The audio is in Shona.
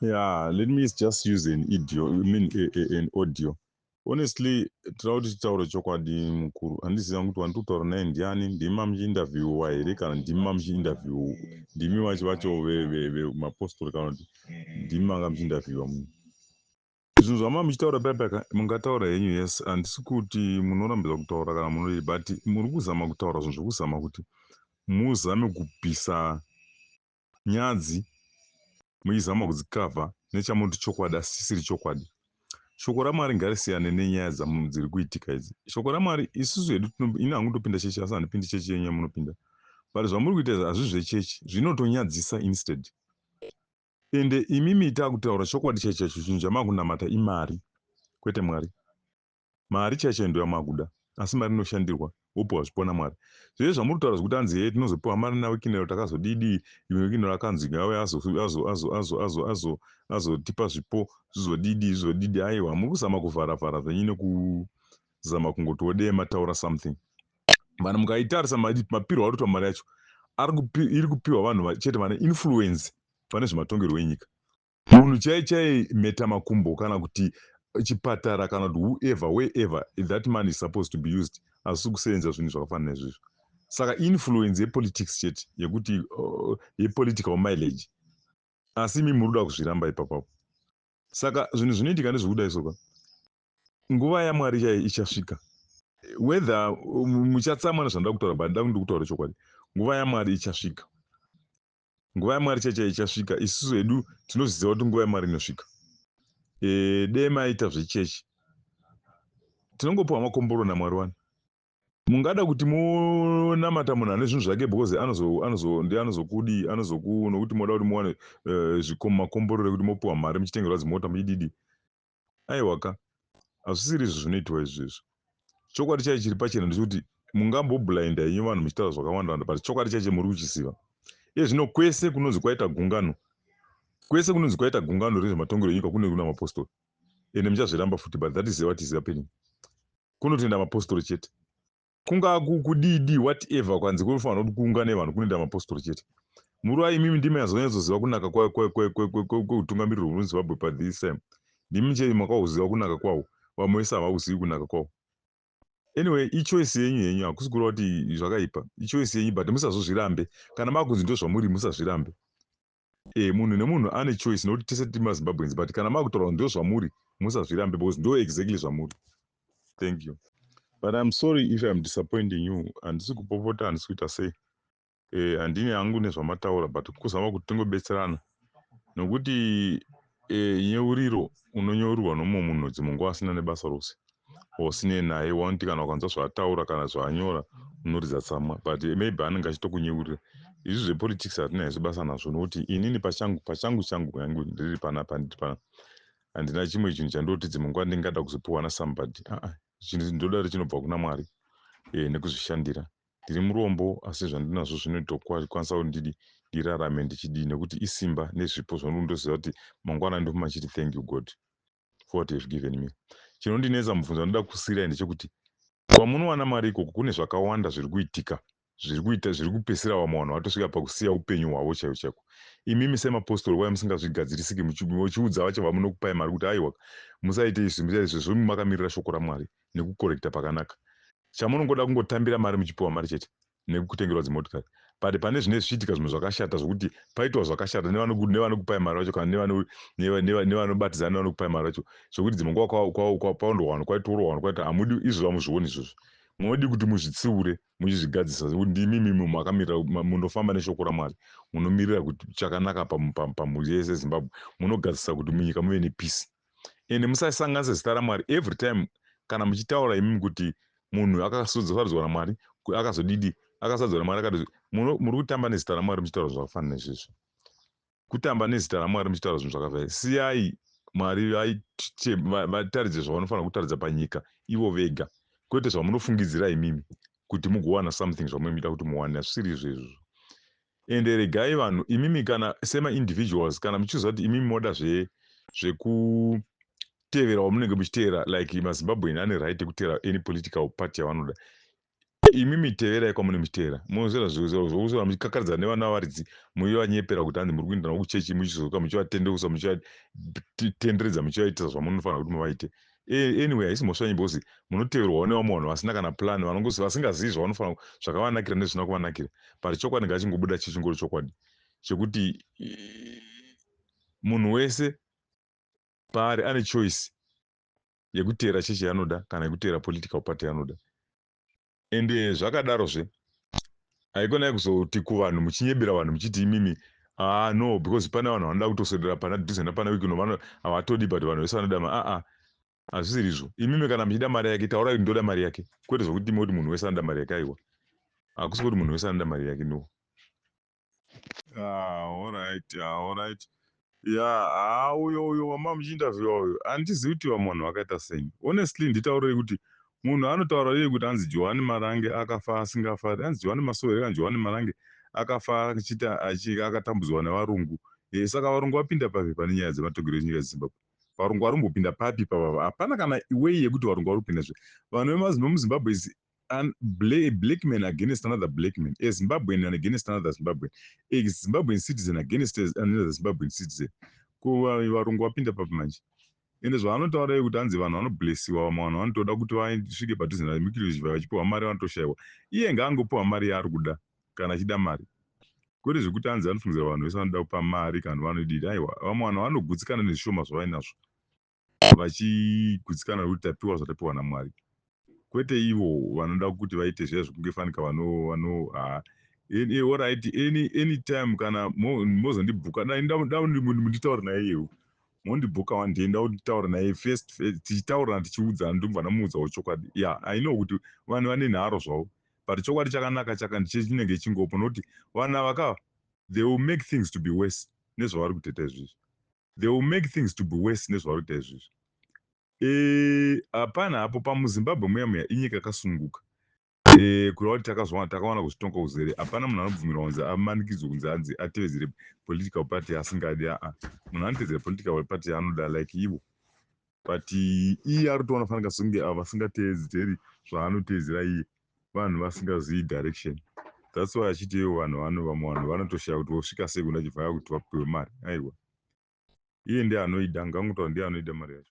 yeah let me just use an idio I mean a, a, an audio honestly tira kuti titaure chokwadi mukuru handiziva kuti wani tokutaura naye ndiani ndimi mamuchiinterviewa here kana ndimi mamuchiinterview ndimi vachi vacho vemapostori kana kuti ndimi manga muchiinterviewa muno Zvinhu zvamanga muchitaura paya paya mungataura henyu yes handisi kuti munorambidza kutaura kana munoi but muri kuzama kutaura zvinhu zvekuzama kuti muzame kubvisa nyadzi muchizama kudzikavha nechamuti chokwadi asi chisiri chokwadi shoko ramwari ngarisiyane nenyaya dziri kuitika idzi shoko ramwari isusu hedu ini hangu ndopinda chechi asi handipindi chechi yenyu yamunopinda but zvamuri kuita izvi hazvi zvechechi zvinotonyadzisa instead Ende imimi itai kutaura chokwadi chaicho chaicho chinhu chamakunamata imari kwete Mwari. Mari chaiyo chaiyo ndoyamakuda asi mari inoshandirwa wopiwa zvipo naMwari. Zvese zvamuri kutaura zvekuti hanzi hee tinozopiwa mari naWikinero takazodidii even Wikinero akanzi ngauye azo azo azo azo azo azo azotipa zvipo zvizodidii zvizodidii aiwa muri kuzama kuvhara vhara zvenyu neku zama kungoti wodei mataura something vanhu mukaitarisa mapirwa arikuitwa mari yacho iri kupiwa vanhu chete vane influence pane zvematongerwo enyika munhu chai chai meta makumbo kana kuti chipatara kana kuti whoever wherever that man is supposed to be used asi kusenza zvinhu zvakafanana izvizvo saka influence yepolitics chete yekuti uh, yepolitical mileage asi imi muri kuda kuzviramba ipapapo saka zvinhu zvinoitika ndezvekuda isoka Nguva yaMwari chaiyo ichasvika. Whether um, muchatsamwa nezvandoda kutaura but ndoda kundi kutaura chokwadi. Nguva yaMwari ichasvika. Nguva yaMwari chaiyo chaiyo ichasvika. Isusu hedu tinozviziva kuti nguva yaMwari inosvika. Eh, dei maita zvechechi. Tinongopiwa makomboro naMwari wani. Mungada kuti munamata munhu ane zvinhu zvake because anozo anozo ndi anozokudi anozoku nokuti moda kuti muwane eh, zvikomo makomborero kuti mopiwa mari muchitengerwa zimota muchididi. aiwa ka hazvisiri izvo zvinoitwa izvezvo chokwadi chai chiri pachena ndechekuti mungamboblainda henyu vanhu muchitaura zvakawandawanda but chokwadi chaiche muri kuchiziva iye zvino kwese kunonzi kwaita gungano kwese kunonzi kwaita gungano rezvematongero enyika kunenge kuna mapostori ende muchazviramba futi but that is what is happening kunotoenda mapostori chete kunga kudidi whatever kwanzi kunofanira kuti kuungane vanhu kunoenda mapostori chete muruva imimi ndimi azonyatsoziva kunaka kweutungamiriro hwedu zimbabwe pathis time ndimi chete makauziva kunaka kwawo vamwe vese havauzivi kunaka kwawo anyway ichoice yenyu henyu hakusi kureva kuti zvakaipa ichoice yenyu but musazozvirambe kana makunzi ndozvamuri musazvirambe Eh munhu nemunhu ane choice nokuti tese tiri maZimbabweans but kana makutorwa ndo zvamuri musazvirambe because ndo exactly zvamuri. Thank you. But I'm sorry if I'm disappointing you handisi kupopota handisi kuita sei eh handine hangu nezvamataura but kuzama kuti tingobetserana nokuti E, nyeuriro unonyeurirwa nomumwe munhu dzimwe nguva asina nebasa rose osinei naye wanoti kana ukanzwa zvaataura kana zvaanyora unoridza tsamwa but maybe anenge achitokunyeurira izvi zvepolitics hatina izvi basa nazvo nokuti inini pachangu pachangu changu yangu ndiri panapa ndiri pana handina chimwe chinhu chandoti dzimwe nguva ndingada kuzopiwa nasambody aa chinhu ndodari chinobva kuna mwari e, nekuzvishandira ndiri murombo asi zvandinazvo zvinotokwanisa kuti ndidi ndirarame ndichidii nekuti isimba nezvipo zvandiri ndoziva kuti mangwana ndofuma ndichiti thank you god for what have given me chinondinetsa mubvunzo vanoda kusiirai ndechekuti kwamunowana mari ikoko kune zvakawanda zviri kuitika zviri kuita zviri kupesera vamwe vanhu vatosvika pakusiya upenyu hwavo chaiko chaiko imimi semapostori waya musingazvigadzirisiki muchiudza vacho vamunokupai mari kuti aiwa musaite izvi musaite izvi zvozvo makamirira shoko ramwari nekukorekita pakanaka. Chamunongoda kungotambira mari muchipiwa mari chete nekukutengerwa dzimotikari but pane zvine zvichiitika zvimwe zvakashata zvokuti paitwa zvakashata nevanokupai mari vacho kana nevanobatidza nevanokupai mari vacho zvokuti dzimwe nguva kwaondwa vanhu kwaitorwa vanhu kwaita hamudi izvozvo hamuzvioni izvozvo munodii kuti muzvitsiure muchizvigadzisa zvekuti ndimi mimi makamirira munofamba neshoko ramwari munomirira kuti chakanaka pamhuri yese zimbabwe munogadzisa kuti munyika muve nepisi and musasanganisa zita ramwari every time kana muchitaura imimi kuti munhu akasodzosarudzwa namwari akazodidi akasadzwa namwari akati muri kutamba nezita ramwari muchitaura zvakafanana nezvezvo kutamba nezita ramwari muchitaura zvinhu zvakafana siyai mwari vataridze zvavanofanira kutaridza panyika ivo vega kwete zvamunofungidzira imimi kuti mugowana something zvamunoita kuti muwane hazvisiri izvezvo Ende regai vanhu imimi kana sema individuals kana muchiziva kuti imimi moda zve zvekutevera wamunenge muchiteera like mazimbabwean ane right yekuteera any political party yavanoda imimi teverai kwamune muchiteera mozvera zvokusora muchikakaridzana nevana varidzi muchivanyepera kuti hanzi muri kuindanavo kuchechi muchizoka muchivatendeusa muchivatenderedza muchivaitisa zvamunofanira kuti muvaite E, anyway haisi mhosva yenyu because munoteverwawo nevamwe vanhu vasina kana plan vasingazivi zvavanofanira zvakavanakira nezvisina kuvanakira but chokwadi ngachingobuda chichingori chokwadi chekuti munhu wese paari ane choice yekuteera chechi yanoda kana yekuteera political party yanoda ende zvakadaro zve haikonai kuzoti kuvanhu muchinyebera vanhu muchiti imimi aa ah, no because pane vanhu vanoda kutoswedera pana dhuze napana wikino vano havatodi but vanhu vese vanoda ma aa ah, ah. hazvisiri izvo imimi kana muchida mari yake taurai kuti ndoda mari yake kwete zvokuti imi kuti munhu wese anoda mari yake aiwa hakusi kuti munhu wese anoda mari yake no Ah, alright, ah, alright. Yeah, ah, uyo uyo wama muchiinterviewa uyo handizivi kuti vamwe vanhu vakaita sei. Honestly nditaurei kuti munhu anotaura iye kuti anzi Johani Marange akafa asingafari, anzi Johani Masowere kana Johani Marange akafa achiti achi- akatambudzwa nevarungu. Eh, saka varungu vapinda papi pane nyaya dzematongerwo enyika yeZimbabwe? Varungu vari kumbopinda papi ipapa? Hapana kana way yekuti varungu vari kupinda zve. Vanhu vemazimbe muZimbabwe is an, bla, black man against another black man, a Zimbabwean and against another Zimbabwean, a Zimbabwean citizen against another Zimbabwean citizen. Ko varungu vapinda papi manje? Ende zvavanotaura yekuti hanzi vanhu vanoblessiwa vamwe vanhu vanotoda kuti vasvike padhuze navemikiriji vaya vachipiwa mari vanotoshaiwa. Iye ngaangopiwa mari yaari kuda kana achida mari. Kwete zvekuti hanzi anofungidzira vanhu vese vanoda kupa mari kana vanoidii. Aiwa, vamwe vanhu vanogutsikana nezvishoma zvavainazvo. vachigutsikana nokuti tapiwa zvatapiwa naMwari kwete ivo vanoda kuti vaite zviya zvekunge fanika vano vano haa orit any any time kana mozondibhuka dai nditaure naye iyewo mondibhuka one day ndautaura naye first tichitaurana tichiudzana ndobva ndamuudzawo chokwadi ya i know kuti vanhu vane nharo zvavo but chokwadi chakanaka chaka ndichinenge chingopo nokuti vanhu ava ka they will make things to be worse nezvavari kuteta izvizvi They will make things to be worse nezvavari kuita izvizvi. Eeh hapana hapo pamu Zimbabwe muya muya inyika yakasununguka. Eeh kureva kuti takazviwana takawana kuzvitonga kuzere hapana munhu anobvumirwa kunzi amanikidzwe kunzi anzi atevedzere political party yaasingadi aah munhu anotevedzera political party yaanoda like ivo. but iye ari kutoona fanika sekunge ava vasingateedzeri zvaanoteedzera iye vanhu vasingazivi direction thats why achiti ivo vanhu vano vamwe vanhu vanotoshaya kuti vosvika sei kuna chivhaya kuti vapiwe mari aiwa iye ndiye anoida ngangotaura ndiye anoida mari yacho